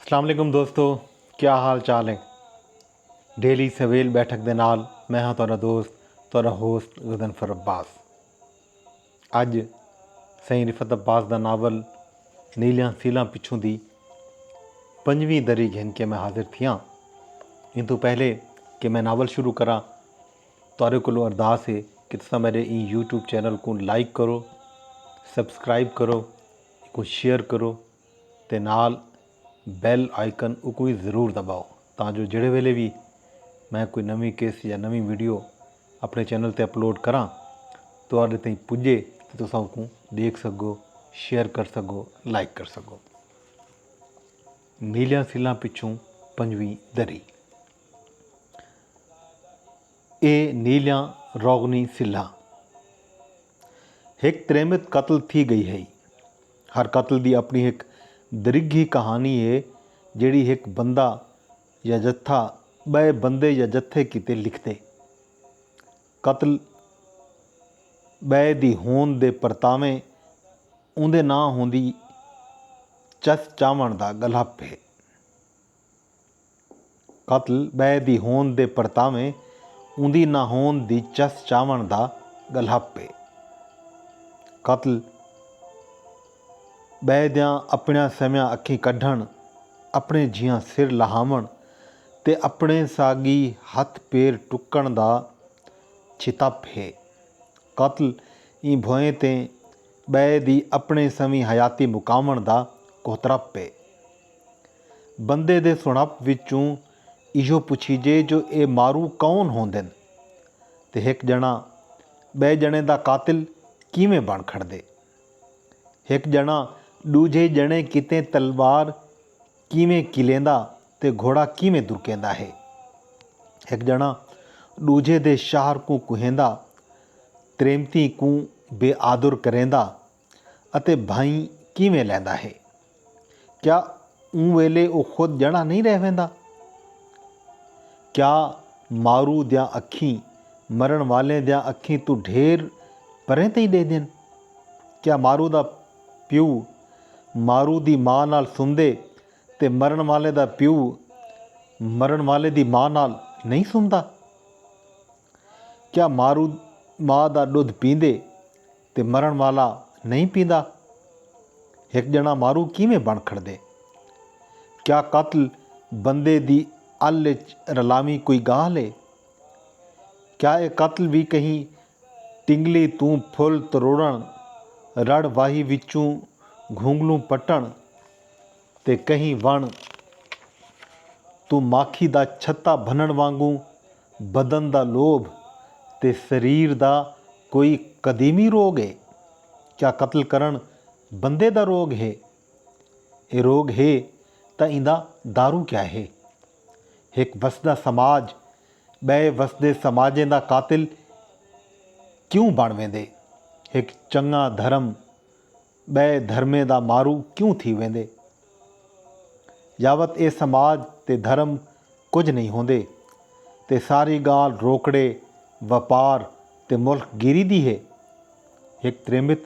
السلام علیکم دوستو کیا حال چال ہے ڈیلی سویل بیٹھک دے نال میں ہاں تہاڈا دوست تہاڈا ہوسٹ غضنفر عباس اج سائیں رفت عباس دا ناول نیلیاں سیلاں پچھوں دی پنجویں دری گھن کے میں حاضر تھیاں ان تو پہلے کہ میں ناول شروع کراں تہاڈے کولو ارداس ہے کہ تساں میرے این یوٹیوب چینل کو لائک کرو سبسکرائب کرو کوں شیئر کرو تے نال بیل آئیکن اکوں وی ضرور دباؤ تاں جو جیڑھے ویلے وی میں کوئی نویں کس یا نویں ویڈیو اپنے چینل تے اپلوڈ کراں تہاڈے تئیں پجے تے تساں اکوں ڈیکھ سگو شیئر کر سگو لائک کر سگو نیلیاں سلاں پچھوں پنجویں دری اے نیلیاں روغنی سلاں ہک تریمت قتل تھی گئی ہئی۔ ہر قتل دی اپنی ہک درگھی کہانی ہے جیڑھی ہک بندہ یا جتھا بئے بندے یا جتھے کیتے لکھدے۔ قتل بئے دی ہوند دے پرتاویں اوندے ناں ہوندی چس چاوݨ دا گلھپ ہے۔ قتل ٻئے دی ہوند دے پرتاویں اوندی نہ ہوند دی چس چاوݨ دا ڳلہپ اے۔ قتل ٻئے دیاں اپݨیاں سویاں اکھیں کڈھݨ، اپݨے جھیاں سر لہاوݨ تے اپݨے ساڳی ہتھ پیر ٹکݨ دا چھتپ اے۔ قتل ایں بھوئیں تے ٻئے دی اپݨے سویں حیاتی مکاوݨ دا کوہترپ اے۔ بندے دے سݨپ وچوں ایہو پچھیجے جو اے مارو کون ہوندن تے ہک ڄݨاں ٻئے ڄݨے دا قاتل کیویں بݨ کھڑدے؟ ہک ڄݨاں ݙوجھے ڄݨے کیتے تلوار کیویں کلیندا تے گھوڑا کیویں درکیندا ہے؟ ہک ڄݨاں ݙوجھے دے شہر کوں کوہیندا، تریمتیں کوں بے آدر کریندا، اتے بھائیں کیویں لیندا ہے؟ کیا اوں ویلے او خود جݨا نئیں رہ ویندا؟ کیا مارو دیاں اکھیں مرݨ والیں دیاں اکھیں توں ڈھیر پریں تئیں ݙیہدن؟ کیا مارو دا پیو مارو دی ماء نال سمدے تے مرݨ والے دا پیو مرݨ والے دی ماء نال نئیں سمدا؟ کیا مارو ماء دا ݙدھ پیندے؟ تے مرݨ والا نئیں پیندا؟ ہک ڄݨا مارو کیویں بݨ کھڑدے؟ کیا قتل بندے دی ال اچ رلاویں کوئی ڳالھ اے؟ کیا اے قتل وی کہیں ٹنگلی توں پھل تروڑݨ، رڑھ واہی وچوں گھونگلوں پٹݨ تے کہیں وݨ توں ماکھی دا چھتا بھنݨ وانگوں بدن دا لوبھ تے سریر دا کوئی قدیمی روگ اے؟ کیا قتل کرݨ بندے دا روگ ہے؟ اے روگ ہے تاں ایندا دارو کیا ہے؟ ہک وسدا سماج بئے وسدے سماجیں دا قاتل کیوں بݨ ویندے؟ ہک چنگاں دھرم ٻئے دھرمیں دا مارو کیوں تھی ویندے؟ یاوت اے سماج تے دھرم کجھ نئیں ہوندے تے ساری ڳالھ روکڑے، وپار تے ملک گیری دی ہے؟ ہک تریمت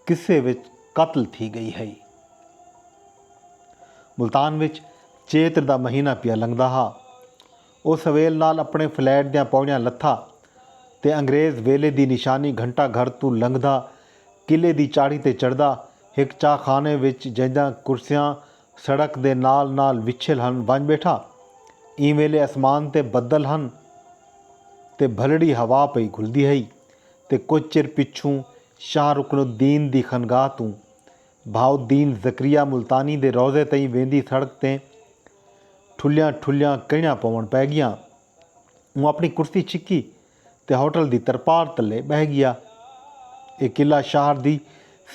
قصے وچ قتل تھی ڳئی ہئی۔ ملتان وچ چیتر دا مہینہ پیا لنگھدا ہا۔ او سویل نال اپݨے فلیٹ دیاں پوڑیاں لتھا تے انگریز ویلے دی نشانی گھنٹہ گھر توں لنگھدا قلعے دی چاڑھی تے چڑھدا۔ ہک چاہ خانے وچ جینداں کرسیاں سڑک دے نال نال وچھل ہن ونڄ ٻیٹھا۔ ایں ویلے اسمان تے بدل ہن تے بھلڑی ہوا پئی گھلدی ہئی تے کجھ چر پچھوں شاہ رکن الدین دی خنگاہ توں بھاؤ الدین زکریا ملتانی دے روضے تئیں ویندی سڑک تیں ٹھلیاں ٹھلیاں کئنڑاں پوونڑ پئے گیاں۔ اوں اپنڑی کرسی چکی تے ہوٹل دی ترپار تلے ٻہہ گیا۔ اے قلعہ شہر دی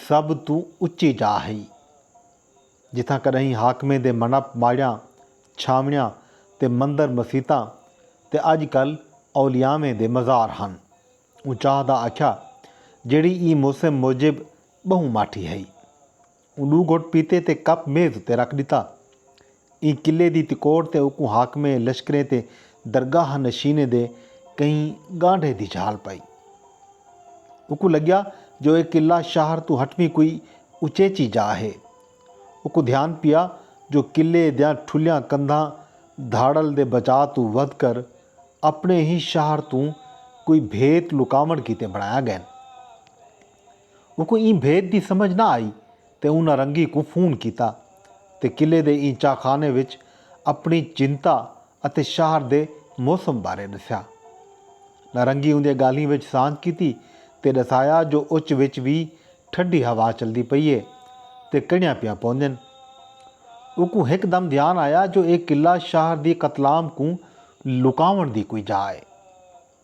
سب توں اچی جاء ہئی جتھاں کݙاہیں حاکمیں دے منپ ماڑیاں چھاونڑیاں تے مندر مسیتاں تے اڄ کل اولیاویں دے مزار ہن۔ اوں چاہدا آکھیا جیڑھی ایں موسم موجب ٻہوں ماٹھی ہئی۔ اوں ݙو گھٹ پیتے تے کپ میز اتے رکھ ݙتا۔ ایں قلعے دی تکوڑ تے اوکوں حاکمیں، لشکریں تے درگاہ نشینیں دے کہیں ڳانڈھے دی جھال پائی۔ اوکوں لڳیا جو اے قلعہ شہر توں ہٹویں کوئی اچیچی جاہ ہے۔ اوکوں دھیان پیا جو قلعے دیاں ٹھلیاں کندھاں دھاڑل دے بچا توں ودھ کر اپݨے ہی شہر توں کوئی بھیت لکاوݨ کیتے بݨایا ڳئن۔ اوکوں ایں بھید دی سمجھ نہ آئی تے انہاں رنگی کوں فون کیتا تے قلعے دے ایں چاہ خانے وچ اپݨی چنتا اتے شہر دے موسم بارے ݙسیا۔ نارنگی اوندیاں ڳالھیں وچ سانجھ کیتی تے ݙسایا جو اچ وچ وی ٹھڈی ہوا چلدی پئی اے تے کݨیاں پیاں پوندین۔ اوکوں ہک دم دھیان آیا جو اے قلعہ شہر دی قتلام کوں لکاوݨ دی کوئی جاہ اے۔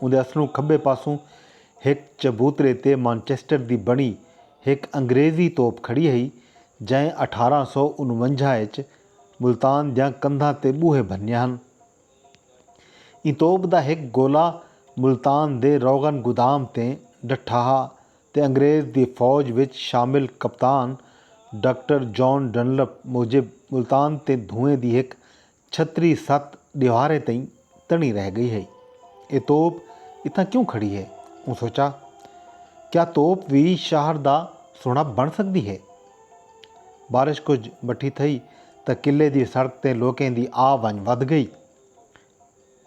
اوندے اسلوں کھبے پاسوں ہک چبوترے تے مانچسٹر دی بݨی ہک انگریزی توپ کھڑی ہئی جئیں اٹھارہ سو انونجاہ اچ ملتان دیاں کندھاں تے ٻوہے بھنیے ہن۔ ایں توپ دا ہک گولہ ملتان دے روغن گودام تے ݙٹھا ہا تے انگریز دی فوج وچ شامل کپتان ڈاکٹر جان ڈنلپ موجب ملتان تے دھوئیں دی ہک چھتری ست ݙیواریں تئیں تݨی رہ ڳئی ہئی۔ اے توپ اتھاں کیوں کھڑی ہے؟ اوں سوچا۔ کیا توپ وی شہر دا سݨب بݨ سڳدی ہے؟ بارش کجھ مٹھی تھئی تاں قلعے دی سڑک تے لوکیں دی آ ونڄ ودھ ڳئی۔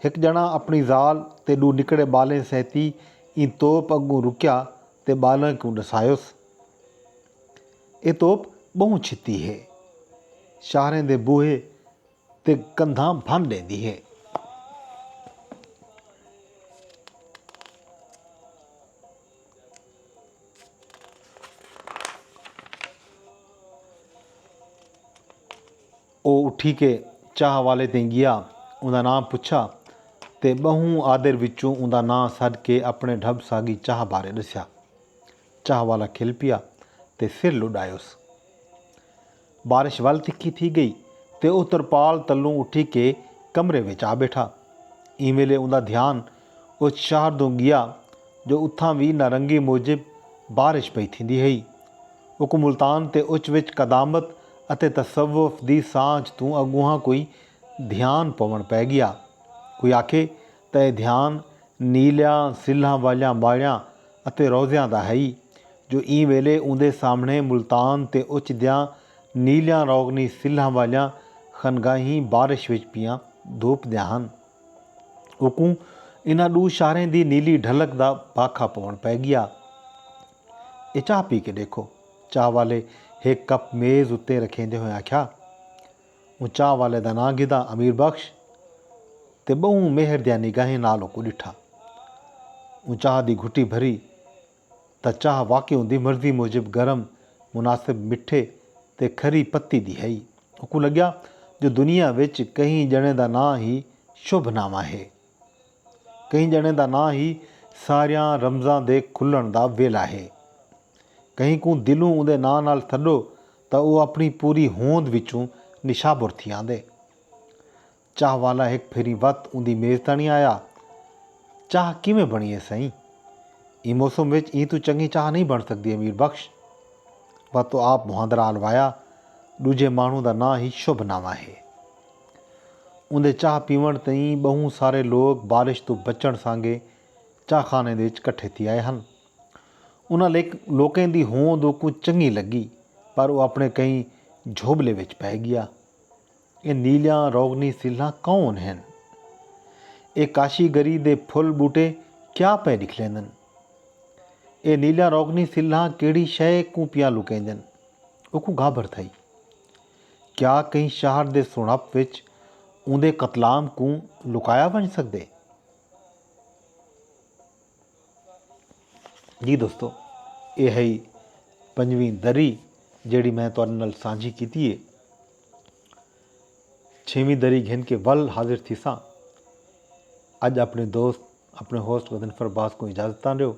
ہک ڄݨاں اپݨی ذال تے ݙو نکڑے ٻالیں سہتی ایں توپ اڳوں رکیا تے ٻالاں کوں ݙسایوس۔ اے توپ ٻہوں چھتی ہے۔ شاہریں دے بوہے تے کندھاں بھن ݙیندی ہے۔ او اٹھی کے چاہ والے تئیں ڳیا اوندا ناں پچھا تے ٻہوں آدر وچوں اوندا ناں سݙ کے اپݨے ڈھٻ ساڳی چاہ بارے ݙسیا۔ چاہ والا کھل پیا تے سر لڈایوس۔ بارش ول تکھی تھی گئی تے او ترپال تلوں اٹھی کے کمرے وچ آ بیٹھا۔ ایں ویلے اوندا دھیان اچ شہر دوں گیا جو اتھاں وی نارنگی موجب بارش پئی تھیندی ہئی۔ اکوں ملتان تے اچ وچ قدامت اتے تصوف دی سانجھ توں اگونہاں کوئی دھیان پوݨ پئے گیا۔ کوئی آکھے تئیں دھیان نیلیاں سلھاں والیاں ماڑیاں اتے روضیاں دا ہئی جو ایں ویلے اوندے سامھݨے ملتان تے اچ دیاں نیلیاں روغنی سلھاں والیاں خنگاہیں بارش وچ پیاں دھوپ دیاں ہن۔ اوکوں انہاں ݙو شاہریں دی نیلی ڈھلک دا بھاکھا پووݨ پئے ڳیا۔ اے چاہ پی کے ݙیکھو، چاہ والے ہک کپ میز اتے رکھیندے ہوئیں آکھیا۔ اوں چاہ والے دا ناں گھدا امیر بخش تے ٻہوں مہر دیاں نگاہیں نال اوکوں ݙٹھا۔ اوں چاہ دی گھٹی بھری تاں چاہ واقعی اوندی مرضی موجب گرم، مناسب مٹھے تے کھری پتی دی ہئی۔ اوکوں لڳیا جو دنیا وچ کہیں ڄݨے دا ناں ہی شبھ نامہ ہے۔ کہیں ڄݨے دا ناں ہی ساریاں رمزاں دے کھلݨ دا ویلھا ہے۔ کہیں کوں دلوں اوندے ناں نال سݙو تاں او اپݨی پوری ہوند وچوں نشابر تھی آندے۔ چاہ والا ہک بھیری وت اوندی میز تاݨی آیا، چاہ کیویں بݨی اے سئیں؟ ایں موسم وچ ایں توں چنڳی چاہ نئیں بݨ سڳدی امیر بخش۔ وت آپ مہاندرا الوایا، ݙوجھے ماݨوں دا ناں ہی شبھ نامہ ہے۔ اوندے چاہ پیونڑ تئیں بہوں سارے لوک بارش توں بچنڑ سانگے چاہ خانے دے وچ کٹھے تھی آئے ہن۔ انہاں لوکیں دی ہوند اوکوں چنگی لگی پر او اپنڑے کہیں جھوبلے وچ پئے گیا۔ اے نیلیاں روغنی سلھاں کون ہن؟ اے کاشی گری دے پھل بوٹے کیا پئے ڈکھلیندن؟ اے نیلیاں روغنی سلھاں کیڑھی شئے کوں پیاں لکیندن؟ اوکوں گھابر تھئی۔ کیا کہیں شہر دے سݨپ وچ اوندے قتلام کوں لکایا ونڄ سڳدے؟ جی دوستو اے ہئی پنجویں دری جیڑھی میں تہاڈے نال سانجھی کیتی ہے چھیویں دری گھن کے ول حاضر تھیساں اج اپنے دوست اپنے ہوسٹ غضنفر عباس کو اجازت تاں ڈیو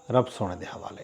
رب سونے دے حوالے